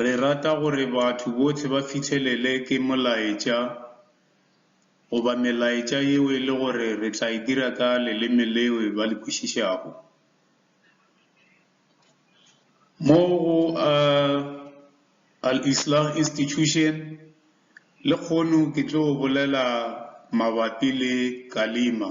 Re rata gore batho bohle ba fihlelele ke molaetša goba melaetša yeo e le gore re tla e dira ka leleme leo ba le kwešišago. Mo go Al-Islah Institution lekhono ke tlo bolela mabapi le Kalima.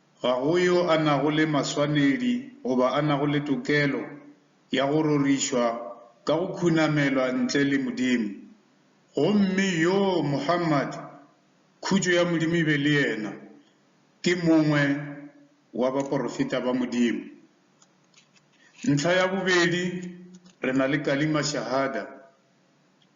Ga go yo a nago le maswanedi goba a nago le tokelo ya go rorišwa ka go khunamelwa ntle le Modimo. Gomme yoo Muhammad, khutšo ya Modimo e be le yena, ke mongwe wa baporofeta ba Modimo. Ntlha ya bobedi, re na le Kalima Shahada.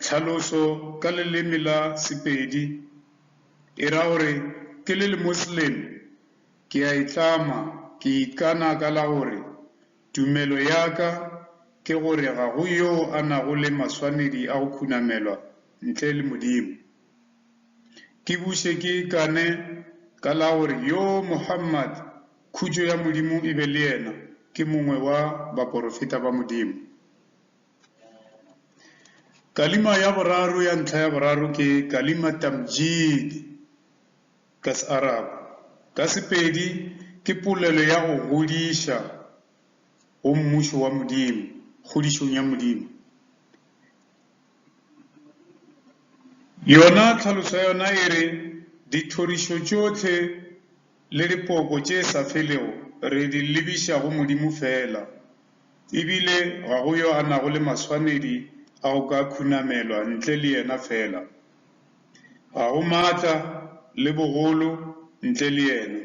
Tlhaloso ka leleme la Sepedi e ra gore, Ke le Lemosleme, ke a itlama, ke ikana ka la gore tumelo ya ka ke gore ga go yo a nago le maswanedi a go khunamelwa ntle le Modimo. Ke buše ke ikane ka la gore yo Muhammad, khutšo ya Modimo e be le yena, ke mongwe wa baporofeta ba Modimo. Kalima ya boraro ya ntlha ya boraro ke kalima tamjid ka Searabu. Ka Sepedi ke polelo ya go godiša go Mmušo wa Modimo, kgodišong ya Modimo. Yona tlhaloso ya yona e re, Dithorišo tšohle le dipoko tše sa felego re di lebiša go Modimo feela, E bile ga go yo a nago le maswanedi a go ka khunamelwa ntle le yena feela. Ga go maatla le bogolo ntle le yena,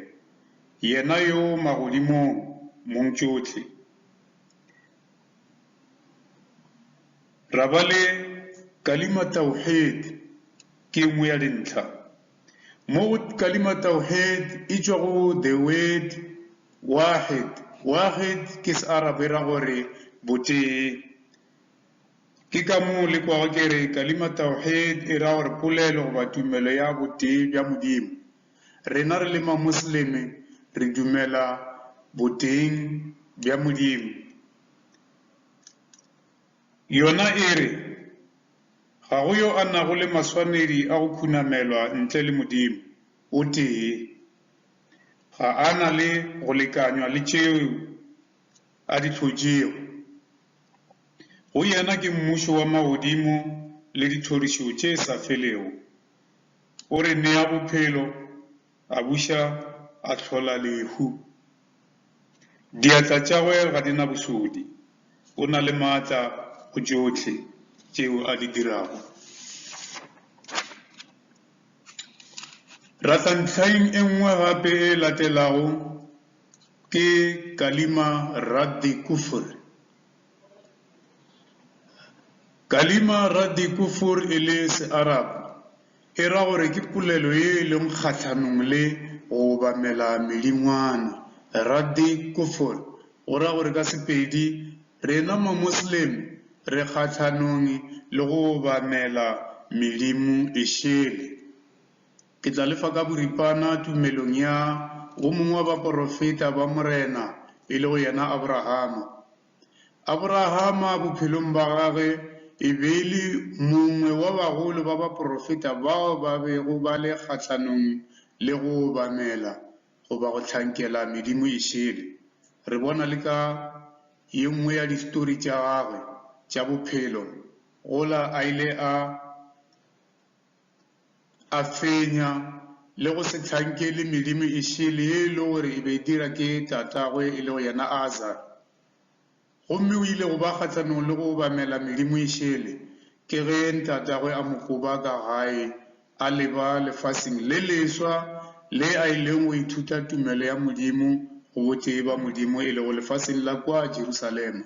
yena yo magodimong mongtšohle. Ra ba le Kalima Tawheed ke e nngwe ya dintlha. Mo go kalima Tawheed e tšwa go the word Waahid, Waahid ke Searabe e ra gore botee. Ke ka moo le kwago ke re kalima Tawheed e ra gore polelo goba tumelo ya botee bja Modimo. Rena re le Mamosleme re dumela boteeng bja Modimo. Yona e re, Ga go yo a nago le maswanedi a go khunamelwa ntle le Modimo o tee. Ga a na le go lekanywa le tšeo a di hlotšego. Go yena ke mmušo wa magodimo le dithorišo tše sa felego. O re nea bophelo. A buša a hlola lehu. Diatla tšagwe ga di na bošodi. O na le maatla go tšohle tšeo a di dirago. Ra tla ntlhaing e nngwe gape e latelago, ke Kalima Raddi Kufr. Kalima ra Diku fur e le Searabu, e ra gore ke polelo ye e lego kgahlanong le go obamela medingwana. Ra Dik kufur go ra gore ka Sepedi, rena Mamoslemo re kgahlanong le go obamela medimo e šele. Ke tla le fa ka boripana tumelong ya wo mongwe wa baporofeta ba Morena, e lego yena Aborahama. Aborahama bophelong bja gagwe e be e le mongwe wa bagolo ba baporofeta bao ba bego ba le kgahlanong le go obamela goba go hlankela medimo e šele. Re bona le ka ye nngwe ya distory tša gagwe tša bophelo gola a ile a a fenya le go se hlankele medimo e šele ye e lego gore e be e dira ke tatagwe e lego yena Azar. Gomme o ile go ba kgahlanong le go obamela medimo e šele ke ge ntatagwe a mo koba ka gae a leba lefaseng le leswa le a ileng go ithuta tumelo ya Modimo go botee ba Modimo e lego lefaseng la kwa Jerusalema.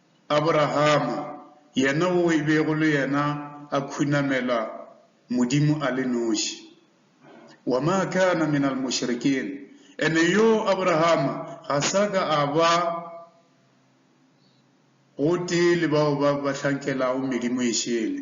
Aborahama, yena wo e bego le yena a khunamela Modimo a le noši. Wa ma kana min al mushrikin, ene yo Aborahama ga sa ka a ba gotee le bao ba ba hlankelago medimo e šele.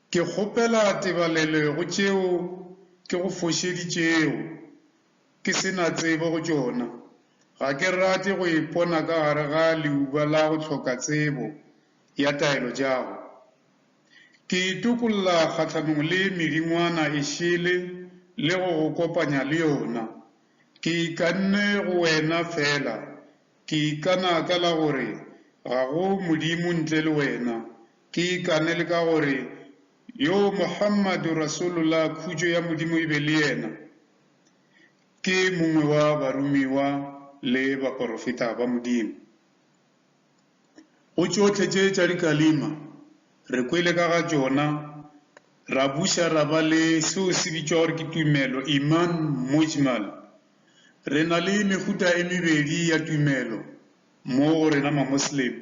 Ke kgopela tebalelo go tšeo ke go fošeditšego ke se na tsebo go tšona. Ga ke rate go ipona ka gare ga leuba la go hloka tsebo ya taelo tšago. Ke itokolla kgahlanong le medingwana e šele le go go kopanya le yona. Ke ikanne go Wena feela, ke ikana ka la gore ga go Modimo ntle le Wena, Ke ikane le ka gore, Yo Muhammadu Rasulullah, khutšo ya Modimo e be le yena, ke mongwe wa baromiwa le baporofeta ba Modimo. Go tšohle tše tša dikalima re kwele ka ga tšona, ra buša ra ba le seo se bitšwa gore ke tumelo, Iman Mujmal. Re na le mehuta e mebedi ya tumelo mo go rena Mamosleme.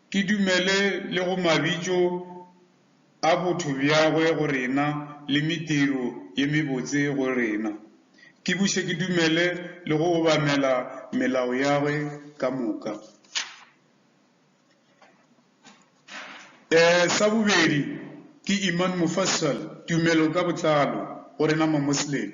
Ke dumele le go mabitšo a botho bjagwe go rena le mediro ye mebotse go rena. Ke buše ke dumele le go obamela melao yagwe ka moka. E, sa bobedi, ke Iman Mufassal, tumelo ka botlalo, go rena Mamosleme.